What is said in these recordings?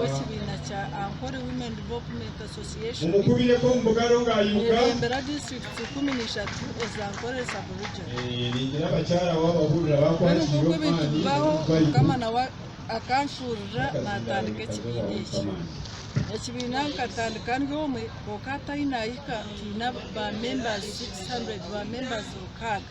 w'ekibiina kya Ankole Women Development Association ereebembera disiturikiti ikumi na ishatu eza Ankole Sub-Region. Mbwenu nk'oku ebintu bibaho, Mukama nawe akanshuurira naatandika ekibiina eki. Ekibiina nkatandika ndi omwe, kwonka hatahi naahika twine ba members 600, ba members mukaaga.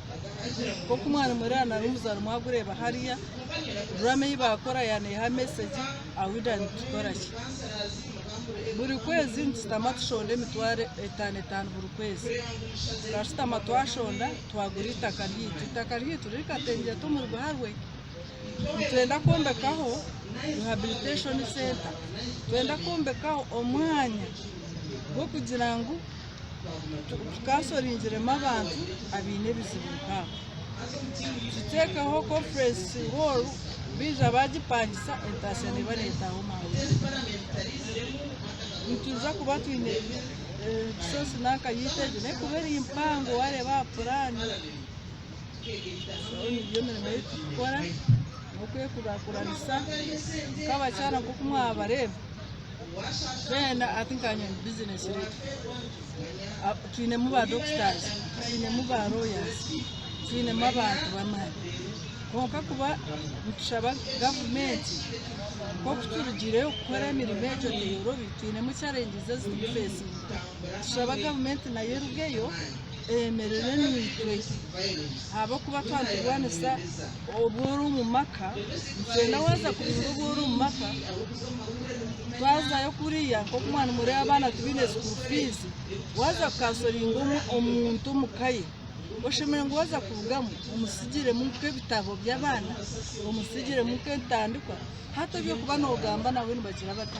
Nk'oku mwari mureba nari omuzaarwa mwagureeba hariya, drama ei baakora yaaneha message aha Wida nitukoraki. Buri kwezi nitushutama tushonda emitwaro etaano etaano buri kwezi. Tukashutama twashonda twagura eitaka ryaitu. Eitaka ryaitu riri Katengyeto omuri Buharwe. Nitwenda kwombekaho Rehabilitation Centre. Nitwenda kwombekaho omwanya gw'okugira ngu. tukaasoringiremu abantu abaine ebizibu nk'abo. Tuteekaho Conference Hall baija baagipangisa entaasya neeba neetaaha omu hawuuzi. Nitwija kuba twine Resource nanka yaitu egyo nayo kuba eri mpango waareeba aha puraani. Shoori nigyo mirimo ei turikukora n'okwekuraakuranisa nk'abakyara nk'oku mwabareeba. twena ati nkanye omu bizinesi reedi twinemu ba dokitazi twinemu ba royazi twinemu abantu b'amaani kwonka kuba nitushaba gavumenti nk'oku turugiireyo kukora emirimo egyo teyorobi twinemu charengizi ezi turikufeesinga tushaba gavumenti nayo erugeyo eyemerere naitwe ahabw'okuba twagiburanisa obu ori omu maka nitwenda waaza kubiihura obu ori omu maka twazayo kuriya nk'oku mwanimureeba abaana tibaine sikuuru fiizi waaza kukansoringa omuntu omu ka ye oshemereire ngu waaza kurugamu omusigiremu nk'ebitabo by'abaana omusigiremu nk'entandikwa hati eby'okuba noogamba nabwe nibagira bata?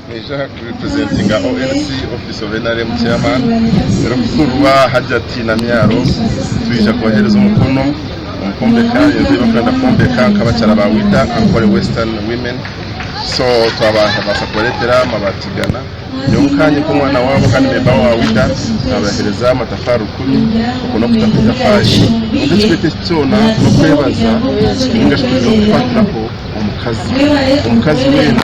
Naija aha kuri representinga ONC office of nrm chairman Nyirikuhurwa Hajjati Namyaro twija kubahereza omukono omu kwombeka enju eyibakwenda kwombeka nka abakyara ba WIDA Ankole Western Women so twabaasa kubaretera amabaati igana nyowe nkanye nk'omwana waabo kandi memba wa WIDA nabahereza amatafaari rukumi oku n'okutaho etafaari kwonka ekikweeto eki kyoona n'okwebaza ningashi kwija kufatiraho omukazi omukazi weena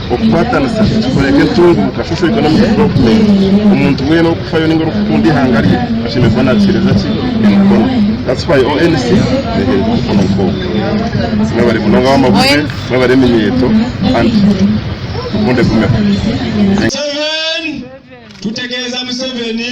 Okukwatanisa nikikoreebwa entunguuka nkashoshoitwe n'amukozi wa guvumenti. Omuntu weena orikufayo nainga orikukunda eihanga rye ashemereire kuba naakiheereza ki? Emikono. That's why ONC neeheereza omukono nk'ogwo. Mwebare munonga ab'amabuze, mwebare eminyeeto and rukundo egumeho. Museven, tutegeeza Museveni.